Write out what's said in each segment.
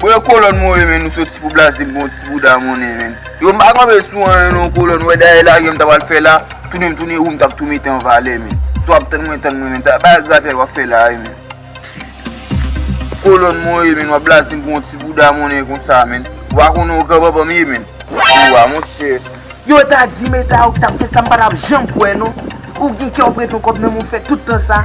Bwè kolòn mwen renmen nou soti pou blaz dem bon ti bouda monnen menn yo m pa kanpe sou anyen non kolòn wè dèyè lagem ta pral fè la tounen m tounen ou m tap tou mete an valè menn si wap tann mwen tann mwen menn sa bagay gratèl wap fè la ye menn kolòn mwen ye menn wap blazem pou yon ti bouda monnen konsa menn ou pa konnen ou gran banbanm ye menn ou a monchè. Yo ta dim eta ou tap fè sa m pa tap janm kwè non Ou gen kè ou prete yon kòb nan men ou fè tout tan sa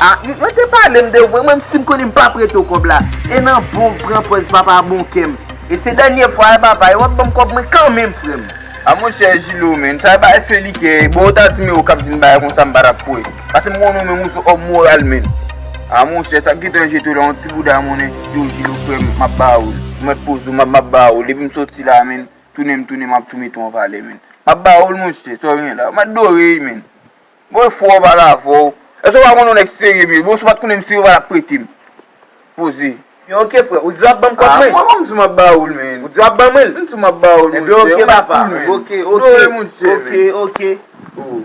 A mwen te pale m de vwe mwen m si m konnen m pa prete w kòb la E nan bon w pran pòz papa bon kè m E se dènye fwa e papa e wap banm kòb mwen kanmenm frè m. A monchè Jilo men n ta bay Feli kè e bon ou ta dim e ou kap dim bagay konsa m pa tap kwè Pase m konnen ou menm ou son òm moral men A monchè sak gentan jete w la yon ti bouda monnen Yo Jilo frè m map ba ou l Ou mèt poze w map map ba ou l depi m soti la men. Tounen m tounen map tou mete w anvalè menn Map ba w l monche sa w gen la Mwen adore y menn Bon e fwa w pale avè w Èske w pa konnen w nèg serye menn Bon si w pat konnen m serye w patap prete m Poze Ebyen ok frè Ou di w ap ban m kòb mwen Mwen menm m di w map ba w l menn Ou di w ap ban mwen l M di w map ba w l monche Ebyen ok papa Ou mèt koul menn Ok ok Adore monche menn Ok ok Oh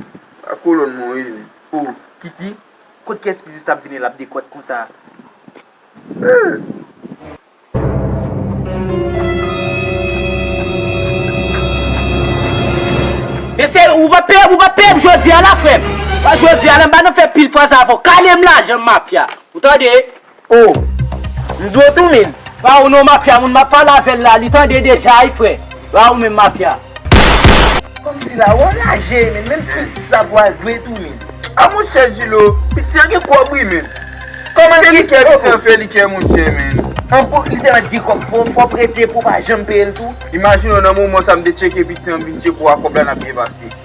A kolòn mwen w ye menn Oh Kiki Kot kès pizza sa ap vini lap dekòt konsa Hum. Men se ou pa peyem ou pa peyem jodia la frem pa jodia la m pa nan fè pil fwa sa fò kalem lajanm mafya ou tande oh m di w tou min. Pa ou non mafya moun map pale avèl la li tande deja wi frè. Ba ou menm mafya. Komsi la wè lajè min menm piti sa pou al dwe tou min. A monchè Julo, piti an gen kòb wi min. Kòman se li kè piti an fè li kè monchè min. An bon li tèlman t gen kòb fò w prete pou w pa janm peye l tou. Imajine w nan moman sa m te tcheke piti an m vin tcheke w a kòb la n ap byen pase.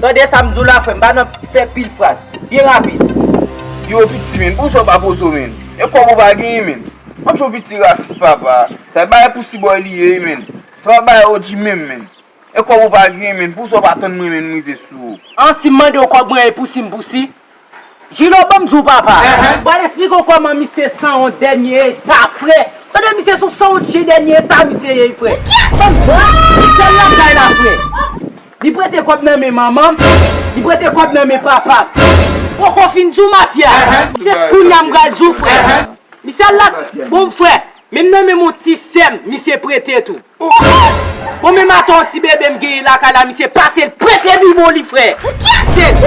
Tande sa m di w la frè m, pa nan fè pil fraz. Byen rapid. Yo piti menn, pou sa w pa poze w menn? E kòb ou pa genyen menn? Ank yo piti rasis papa. Sa e bagay pou Cboy li ye wi menn. Se pa bagay OG menm menn. E kòb ou pa genyen menn, pou sa w pa tann mwen menn m rive sou ou? An si m mande w kòb mwen e pou si m pou si? Jino banm diw papa. Bon al esplike w koman misye sanwont dènye eta frè. Tande misye son sanwont chyen dènye eta misye ye frè. Banm diw. Li sèl nan kay la frè. Li prete kòb nan men manmanm. Li prete kòb nan men papam. Poko fin diw mafya. Se kounya m pral diw frè. Misye al la bon frè. Menm nan menm yon ti sèm misye prete tou. Bon menm ata yon ti bebe m genyen lakay la misye pase l prete bibo li frè. M sezi.